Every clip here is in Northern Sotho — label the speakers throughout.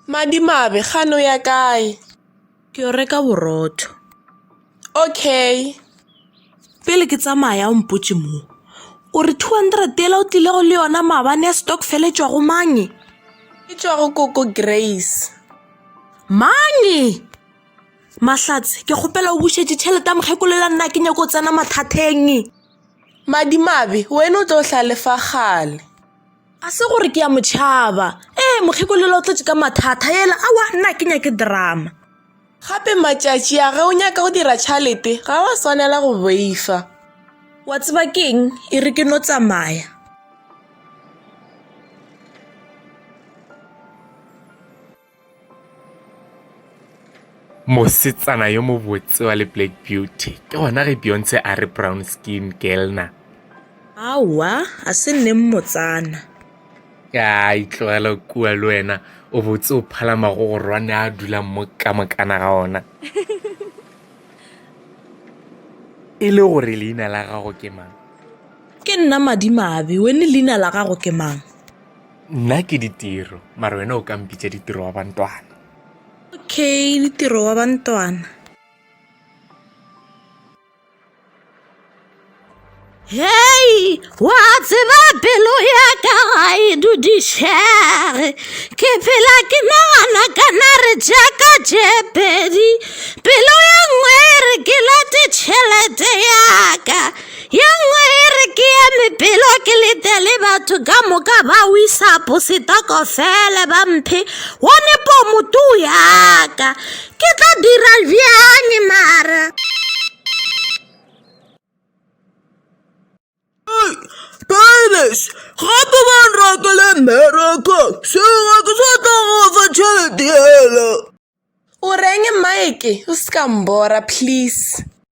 Speaker 1: Madimabe, gano ya kae? Ke yo reka
Speaker 2: borotho.
Speaker 1: Okay.
Speaker 2: Pele ke tsamaya o mpotše mo. O re 200 yela o tlile go le yona maabane ya stokfele e tšwago mang? E tšwago
Speaker 1: koko Grace. Mang?
Speaker 2: Mahlatse, ke kgopela o bušetše tšhelete ya mokgekolo yela nna ke nyako tsena mathateng. Madimabe,
Speaker 1: wena o tlo hla le fa gale. A se
Speaker 2: gore ke ya motšhaba. Ee, mokgekolola o tletše ka mathata. Yela awa nna ke nyake drama. Gape
Speaker 1: matšatši a ge o nyaka go dira tšhalete ga wa swanela go boifa. Wa tseba
Speaker 2: keng e re ke no tsamaya.
Speaker 3: Mosetsana yo mobotse wa le Black Beauty. Ke gona ge Beyonce a re brown skin girl na. Aowa,
Speaker 2: a se nne mmotsana. Ka
Speaker 3: itlogela kua le wena o botse o phala magogorwane a dulang mo ka mokana ga ona. E le gore leina la gago ke mang? Ke nna
Speaker 2: Madimabe, wene leina la gago ke mang? nna
Speaker 3: ke ditiro mara wena o ka mpitša ditiro wa bantwana okay
Speaker 2: ditiro wa bantwana hei wa tseba pelo ya ka ga e dudišege ke phela ke nagana ka nare jaaka jepedi pelo ya nngwe re ke late tšhelete yaka Ye nngwe e re ke eme pelo ke lete le batho ka moka ba wisapo setokofele ba mphe one pomotu yaka ke tla dira bjang mara
Speaker 4: Doris, gape ba nrakele mmereko sega ke sa tla go fa tšhelete yela o
Speaker 1: reng mike o se ka mbora please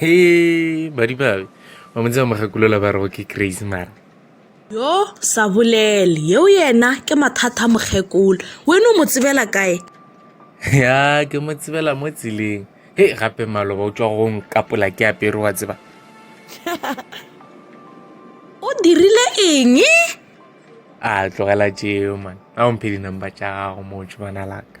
Speaker 3: he madimabe ba montse ba mogakulola ba rego ke crazy mara yo
Speaker 2: sa bolele yeo yena ke mathata mokgekolo wene o mo tsebela kae ya
Speaker 3: ke mo tsebela mo tseleng he gape maloba o tswa go nkapola ke apere wa tseba
Speaker 2: o dirile eng
Speaker 3: a tlogela tšeo man a o mphe dinumber tša gago moo tšhobana laka